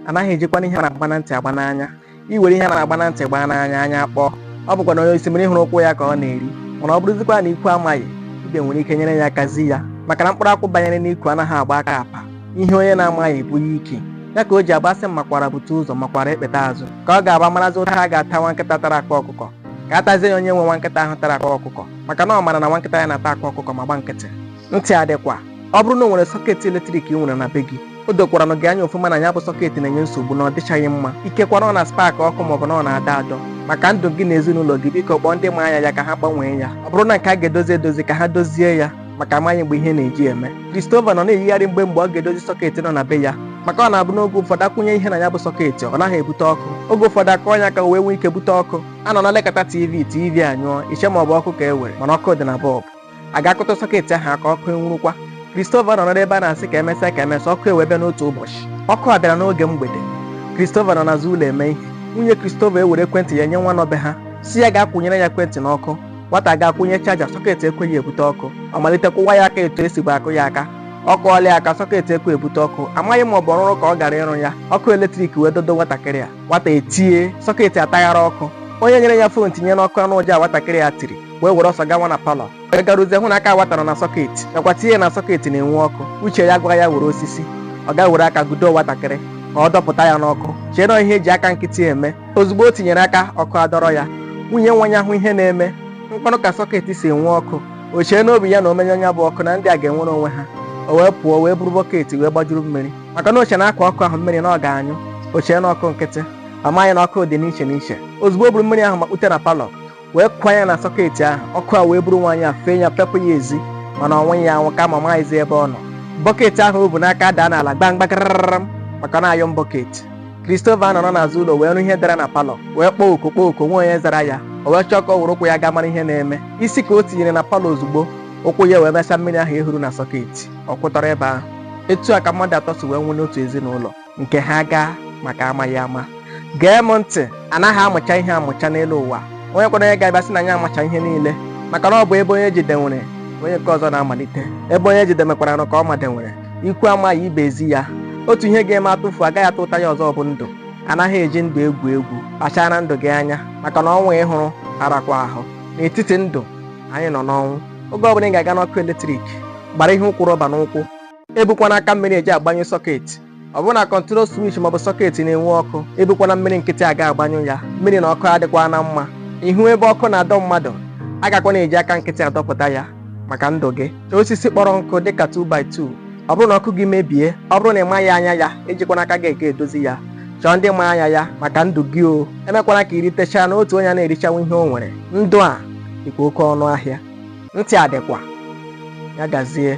anaghị ejikwana ihe a na-agba na ntị agba n'anya i were ihe a na-agba na ntị gbaa n'anya anya kpọọ ọ bụkwa na onye osimiri hụrụ ụkwụ ya ka ọ na-eri mana ọ bụrụzikwa na ikwu amaghị ibe nwere ike nyere ya aka zi ya maka na mkpụrụ akwụ banyere n'ikwe anaghị agba aka apụ ihe onye na-amaghị bụ ya ike ya ka o ji abụ a sị m makwara bute ụzọ makwara ekpeta azụ ka ọ ga-abụ a marazi ụta a ga-ata nwa nkịta tara akpa ọkụkọ ka a tazie ya onye nwe nwa nkịta ahụ tara akpa ọkụkọ maka na ọ mara na nwa nkịta ya na-ata akpa ọkụkọ ma gba nkịtị ntị adịkwa ọ bụrụ na o nwere sọketi eletrik i nwere na be gị o dokwaranụ gị anya ofụma na ya bụ sọketi na-enye nsogbu na ọ dịchaghị mma ikekwe na ọ na-spak ọkụ maọbụ na ọ na-adọ adọ maka ndụ gị na ezinụlọ gị biko kpọọ ndị ma anya ya ka ha gbanwee ya ọ bụrụ na nke a ga-edozi edozi ka ha dozie ya maka amaghị mgbe ihe na-eji eme Christopher nọ na-eyigharị mgbe mgbe ọ ga-edozi sọketi nọ na be ya maka ọ na-abụ n'oge ụfọdụ a kwụnye ihe na ya bụ sọketi ọ naghị ebute ọkụ oge ụfọdụ a kụọ ya aka o wee nwee ike bute ọkụ a nọ na-elekata tv tv anyụọ i chee ma ọ bụ ọkụ ka e were mana ọkụ dị na bọlbụ a ga-akụta sọketi ahụ aka ọkụ enwurukwa Christopher nọ n'ebe a na-asị ka emesịa ka emesịa ọkụ ewee bịa n'otu ụbọchị ọkụ a bịara n'oge mgbede Christopher nọ n'azụ ụlọ eme ihe nwunye Christopher ewere ekwentị ya nye nwa nọ be ha sị ya gaa kwụnyere ya ekwentị n'ọkụ nwata gaa kwụnye chaja sọketi ekweghị ebute ọkụ ọ malite kụwa ya aka etu e sibu akụ ya aka ọ kụọla ya aka sọketi ekwe ebute ọkụ amaghị ma ọ bụ ọrụrụ ka ọ gara ịrụ ya ọkụ eletrik wee dọdo nwatakịrị a nwata etie sọketi ataghara ọkụ onye nyere ya fon tinye n'ọkụ anụ ụja nwatakịrị a tiri wee were ọsọ gawa na palọ wee garuzie hụ na aka nwata a na sọketi nakwa tinye na sọketi na-enwu ọkụ uche ya gwara ya were osisi ọ gaa were aka gudo nwatakịrị ka ọ dọpụta ya n'ọkụ chee na ihe e ji aka nkịtị eme ozugbo o tinyere aka ọkụ adọrọ ya nwunye nwa ya hụ ihe na-eme mkpanụ ka sọketi si enwu ọkụ o chee n'obi ya na o menyụọ ya bụ ọkụ na ndị a ga-enwere onwe ha o wee pụọ wee buru bọketi wee gbajuru mmiri maka na o chee na a kwaa ọkụ ahụ mmiri na ọ ga-anyụ o chee na ọkụ nkịtị amaghị na ọkụ dị n'iche n'iche ozugbo o buru mmiri ahụ makpute na palọ wee kwaa ya na sọketi ahụ ọkụ a wee buru nwaanyị a fee ya fepụ ya ezi mana ọ nwụghị anwụ kama amaghịzi ebe ọ nọ bọketi ahụ o bu n'aka daa n'ala gbamgba karararam maka na ayọn bọketi Christopher nọrọ n'azụ ụlọ wee nụ ihe dara na palọ wee kpọọ oku kpọọ oku enweghị onye zara ya o wee chọọ ka ọ were ụkwụ ya gaa mara ihe na-eme isi ka o tinyere na palọ ozugbo ụkwụ ya wee mesa mmiri ahụ e huru na sọketi ọ kwụtọrọ ebe ahụ etu a ka mmadụ atọ si wee nwụ n'otu ezinụlọ nke ha agaa maka amaghị ama gee m ntị anaghị amụcha ihe amụcha n'elu ụwa o nwekwara onye ga-abịa sị na anyị amacha ihe niile maka na ọ bụ ebe onye jedebere onye nke ọzọ na-amalite ebe onye jedebekwaranụ ka ọ madebere ikwu amaghị ibe ezi ya otu ihe ga-eme a tụfuo a gaghị atụta ya ọzọ bụ ndụ anaghị eji ndụ egwu egwu kpachara ndụ gị anya maka na ọnwụ a ị hụrụ arakwa ahụ n'etiti ndụ anyị nọ n'ọnwụ oge ọbụla ị ga-aga n'ọkụ eletrik gbara ihe ụkwụ rọba n'ụkwụ ebukwana aka mmiri eji agbanyụ sọketi ọ bụrụ na kọntrol swich maọbụ sọketi na-enwu ọkụ ebukwana mmiri nkịtị aga agbanyụ ya mmiri na ọkụ adịkwa na mma ị hụ ebe ọkụ na-adọ mmadụ agakwana eji aka nkịtị adọpụta ya maka ndụ gị chọọ osisi kpọrọ nkụ dịka 2x2 ọ bụrụ na ọkụ gị mebie ọ bụrụ na ị maghị anya ya ejikwana aka gị eke edozi ya chọọ ndị ma anya ya maka ndụ gị o emekwana ka i ritechaa na otu onye ana-erichanwu ihe o nwere ndụ a dịkwa oke ọnụ ahịa ntị adịkwa ya gazie